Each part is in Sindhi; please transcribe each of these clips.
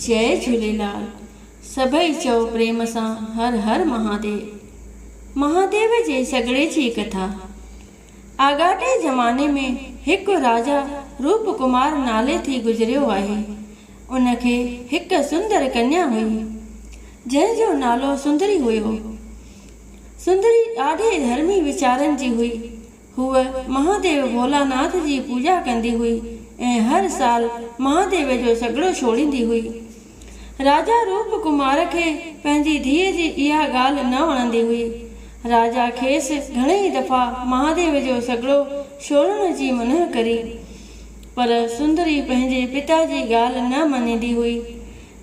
جئي جهوليلال سڀئي چئو پريم سان هر هر مهاديو. مهاديو جي سڳڙي جي ڪٿا. آڳاٽي زماني ۾ هڪ راجا روپ ڪمار نالي ٿي گذريو آهي. ان کي هڪ سندر ڪنيا هئي. جنهن جو نالو سندري هيو. سندري ڏاڍي ڌرمي ويچارن جي هئي. هوء مهاديو ڀولاناٿ جي پوڄا ڪندي هئي ۽ هر سال مهاديو جو سڳڙو ڇوڙيندي هئي. راجا روپ ڪمار کي پنهنجي ڌيء جي اها ڳالهه نه وڻندي هئي. راجا کيس گهڻيئي دفعا مهاديو جو سڳڙو ڇوڙڻ جي منع ڪري، پر سندري پنهنجي پتا جي ڳالهه نه مڃيندي هئي.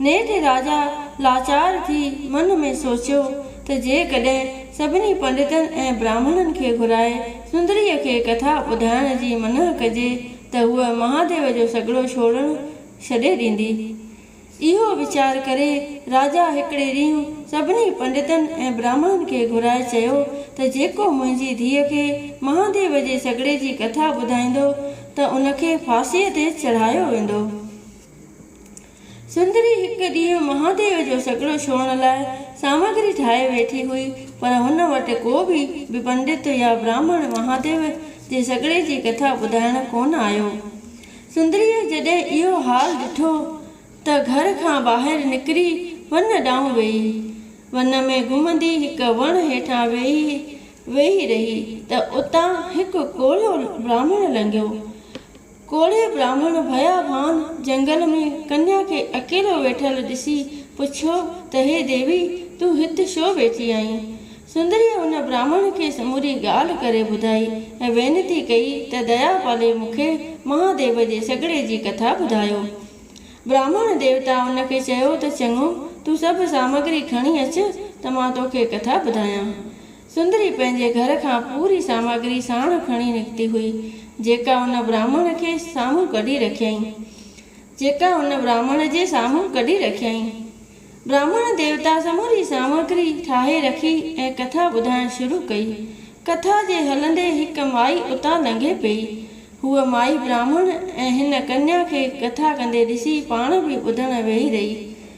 نيٺ راجا لاچار ٿي من ۾ سوچيو ته جيڪڏهن سڀني پنڊتن ۽ براهمڻن کي گهرائي سندريء کي ڪٿا ٻڌائڻ جي منع ڪجي ته هوء مهاديو جو سڳڙو ڇوڙڻ ڇڏي ڏيندي. اهو ويچار ڪري راجا هڪڙي ڏينهن سڀني پنڊتن ۽ براهمڻن کي گهرائي چيو ته جيڪو منهنجي ڌيء کي مهاديو جي سڳڙي جي ڪٿا ٻڌائيندو ته ان کي ڦاسيء تي چڙهايو ويندو. سندري هڪ ڏينهن مهاديو جو سڳڙو ڇوهڻ لاء سامگري ٺاهي ويٺي هئي، پر هن وٽ ڪو به پنڊت يا براهمڻ مهاديو جي سڳڙي جي ڪٿا ٻڌائڻ ڪونه آيو. سندريء جڏهن اهو حال ڏٺو ته گهر کان ٻاهر نڪري ون ڏانهن ويئي. ون ۾ گهمندي هڪ وڻ هيٺان ويهي ويهي رهي ته اتان هڪ ڪوڙهو براهمڻ لنگهيو. ڪوڙهي براهمڻ ڀيابان جهنگل ۾ ڪنيا کي اڪيلو ويٺل ڏسي پڇيو ته هي ديوي تون هت ڇو ويٺي آهين؟ سندريء ان براهمڻ کي سموري ڳالهه ڪري ٻڌائي ۽ وينتي ڪئي ته ديا پالي مون کي مهاديو جي سڳڙي جي ڪٿا ٻڌايو. براهمڻ ديوتا ان کي چيو ته چڱو تون سڀ سامگري کڻي اچ ته مان توکي ڪٿا ٻڌايان. سندري پنهنجي گهر کان پوري سامگري ساڻ کڻي نڪتي هئي، جيڪا ان براهمڻ کي سامهون ڪڍي رکيائين. جيڪا ان براهمڻ جي سامهون ڪڍي رکيائين. براهمڻ ديوتا سموري سامگري ٺاهي رکي ۽ ڪٿا ٻڌائڻ شروع ڪئي. ڪٿا جي هلندي هڪ مائي اتان لنگهي پيئي. هوء مائي براهمڻ ۽ هن ڪنيا کي ڪٿا ڪندي ڏسي پاڻ به ٻڌڻ ويهي رهي.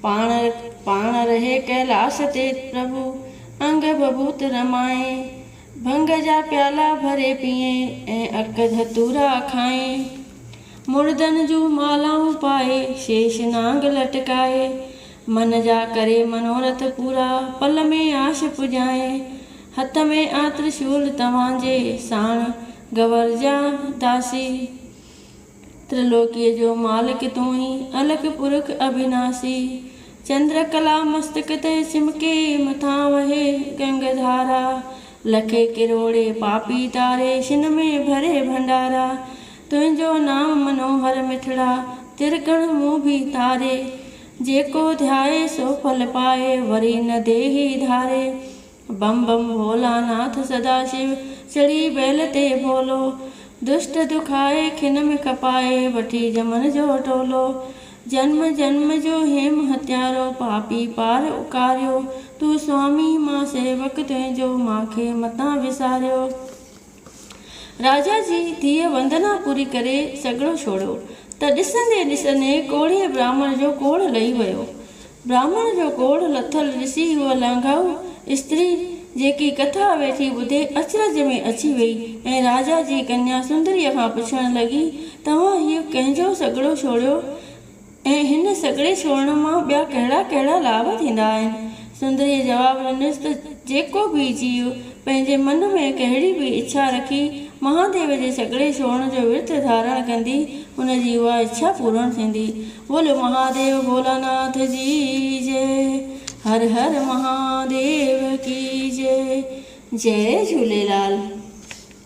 پاڻ پاڻ رهي ڪيلاس تي پرڀو، انگ بڀوت رمائين، ڀنگ جا پيالا ڀري پيئين ۽ عرق ڌتورا کائين. مردن جون مالائون پائي، شيش نانگ لٽڪائي، من جا ڪري منوارٿ پورا، پل ۾ عاش پڄائين. هٿ ۾ آ ترشول توهان جي، ساڻ گور جا داسي. ترلوڪيء جو مالڪ تون ئي الڪ پرک اڀيناسي. چندر ڪلا مستڪ تي چمڪي، مٿان وهي گنگ ڌارا. لکي ڪروڙي پاپي تاري، شن ۾ ڀري ڀنڊارا. تنهنجو نام منوهر مٺڙا، ترڪڻ مون ڀي تاري. جيڪو ڌيائي سو ڦل پائي، وري نه ديهي ڌاري. بم بم ڀولا ناٿ سدا شو چڙهي بيل تي ڀولو دشٽ دکائي کن م کپائي وٺي جمن جو ٽولو جنم جنم جو هيم هتيارو پاپي پار اڪاريو تون سوامي مان سيوڪ تنهنجو مان کي متان وساريو. راجا جي ڌيء وندنا پوري ڪري سڳڙو ڇوڙيو ته ڏسندي ڏسندي ڪوڙهي براهمڻ جو ڪوڙهه لهي ويو. براهمڻ جو ڪوڙهه لٿل ڏسي هوء لانگائو استري جيڪي ڪٿا ويٺي ٻڌي اچرج ۾ اچي ويئي ۽ راجا جي ڪنيا سندريء کان پڇڻ لڳي توهان هيء ڪنهن جو سڳڙو ڇوڙيو ته ۽ هن سڳڙي سورڻ مان ٻيا ڪهڙا ڪهڙا لاڀ ٿيندا آهن؟ سندريء جواب ڏنس ته جيڪو به جيو پنهنجي من ۾ ڪهڙي به اڇا رکي مهاديو جي سڳڙي سورڻ جو ورت ڌارڻ ڪندي ان جي اها اڇا پورڻ ٿيندي. بولو مهاديو ڀولاناٿ جي جئي هر هر مهاديو ڪي جئي جئي جهوليلال.